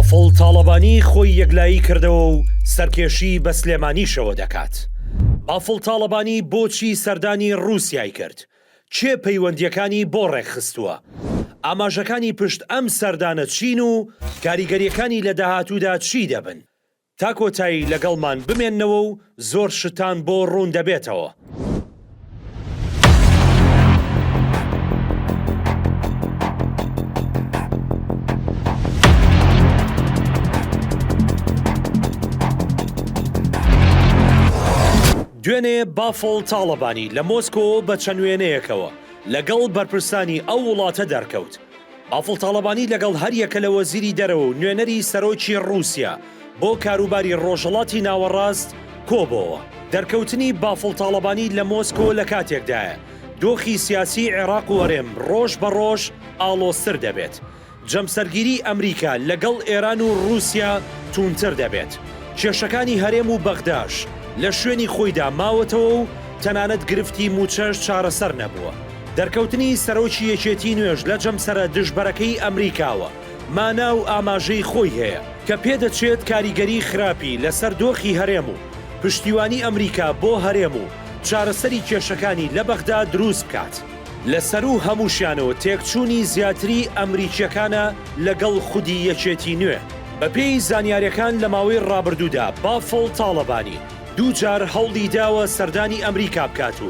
بافڵ تاڵەبانی خۆی یەکلایی کردەوە و سەرکێشی بە سلێمانیشەوە دەکات. بافڵ تاڵەبانی بۆچی سەردانی رووسیای کرد؟ کێ پەیوەندییەکانی بۆ رێکخستووە؟ ئاماژەکانی پشت ئەم سەردانە چین و کاریگەرییەکانی لە داهاتوودا چی دەبن؟ تا کۆتایی لەگەڵمان بمێنەوە و زۆر شتان بۆ ڕوون دەبێتەوە. دوێنێ بافڵ تاڵەبانی لە مۆسکۆ بە چەند وێنەیەکەوە لەگەڵ بەرپرسانی ئەو وڵاتە دەرکەوت، بافڵ تاڵەبانی لەگەڵ هەریەکە لە وەزیری دەرەوە و نوێنەری سەرۆکی ڕووسیا بۆ کاروباری ڕۆژهەڵاتی ناوەڕاست کۆبۆوە. دەرکەوتنی بافڵ تاڵەبانی لە مۆسکۆ لە کاتێکدایە، دۆخی سیاسیی عێراق و هەرێم ڕۆژ بە ڕۆژ ئاڵۆزتر دەبێت. جەمسەرگیریی ئەمریکا لەگەڵ ئێران و ڕووسیا تووندتر دەبێت. کێشەکانی هەرێم و بەغداش لە شوێنی خۆیدا ماوەتەوە و تەنانەت گرفتی مووچەش چارەسەر نەبووە. دەرکەوتنی سەرۆکی یەکێتی نوێش لە جەمسەرە دژبەرەکەی ئەمریکاوە مانا و ئاماژەی خۆی هەیە کە پێدەچێت کاریگەری خراپی لەسەر دۆخی هەرێم و پشتیوانی ئەمریکا بۆ هەرێم و چارەسەری کێشەکانی لە بەغدا دروست بکات. لە سەروو هەمووشیانەوە تێکچوونی زیاتری ئەمریکییەکانە لەگەڵ خودی یەکێتی نوێ. بەپێی زانیارییەکان لە ماوەی ڕابردوودا بافڵ تاڵەبانی دوو جار هەوڵی داوە سەردانی ئەمریکا بکات و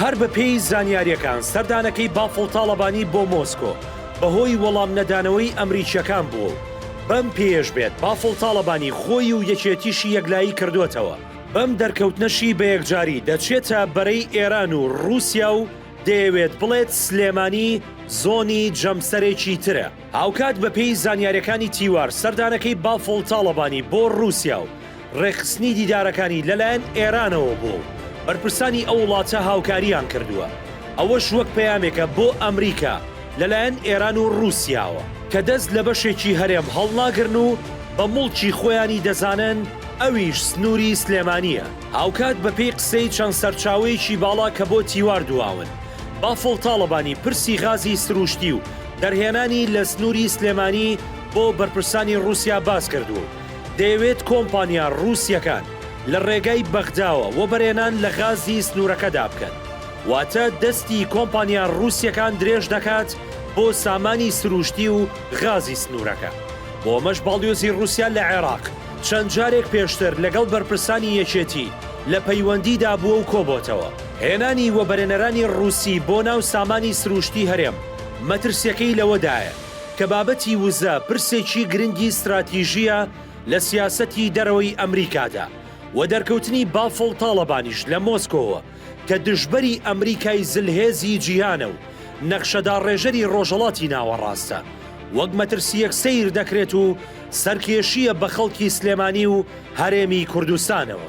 هەر بەپێی زانیارییەکان سەردانەکەی بافڵ تاڵەبانی بۆ مۆسکۆ بەهۆی وەڵام نەدانەوەی ئەمریکییەکان بووە و بەم پێیەش بێت بافڵ تاڵەبانی خۆی و یەکێتیشی یەکلایی کردۆتەوە، بەم دەرکەوتنەشی بەیەکجاری دەچێتە بەرەی ئێران و ڕووسیا و دەیەوێت بڵێت سلێمانی زۆنی جەمسەرێکی ترە. هاوکات بەپێی زانیارییەکانی تیوار سەردانەکەی بافڵ تاڵەبانی بۆ ڕووسیا و ڕێکخستنی دیدارەکانی لەلایەن ئێرانەوە بووە و بەرپرسانی ئەو وڵاتە هاوکارییان کردووە، ئەوەش وەک پەیامێکە بۆ ئەمریکا لەلایەن ئێران و ڕووسیاوە، کە دەست لە بەشێکی هەرێم هەڵناگرن و بە موڵکی خۆیانی دەزانن، ئەویش سنووری سلێمانییە. هاوکات بەپێی قسەی چەند سەرچاوەیەکی باڵا کە بۆ تیوار دواون، بافڵ تاڵەبانی پرسی غازی سرووشتی و دەرهێنانی لە سنووری سلێمانی بۆ بەرپرسانی ڕووسیا باس کردووە و دەیەوێت کۆمپانیا ڕووسییەکان لە ڕێگای بەغداوە وەبەرهێنان لە غازی سنوورەکەدا بکەن، واتە دەستی کۆمپانیا ڕووسییەکان درێژ دەکات بۆ سامانی سرووشتی و غازی سنوورەکە. بۆ ئەمەش باڵیۆزی ڕووسیا لە عێراق چەند جارێک پێشتر لەگەڵ بەرپرسانی یەکێتی لە پەیوەندیدا بووە و کۆبۆتەوە. هێنانی وەبەرێنەرانی رووسی بۆ ناو سامانی سرووشتی هەرێم، مەترسیەکەی لەوەدایە کە بابەتی وزە پرسێکی گرنگی ستراتیژییە لە سیاسەتی دەرەوەی ئەمریکادا و دەرکەوتنی بافڵ تاڵەبانیش لە مۆسکۆوە کە دژبەری ئەمریکای زلهێزی جیهانە و نەخشەداڕێژەری رۆژهەڵاتی ناوەڕاستە وەک مەترسییەک سەیر دەکرێت و سەرکێشییە بە خەڵکی سلێمانی و هەرێمی کوردستانەوە.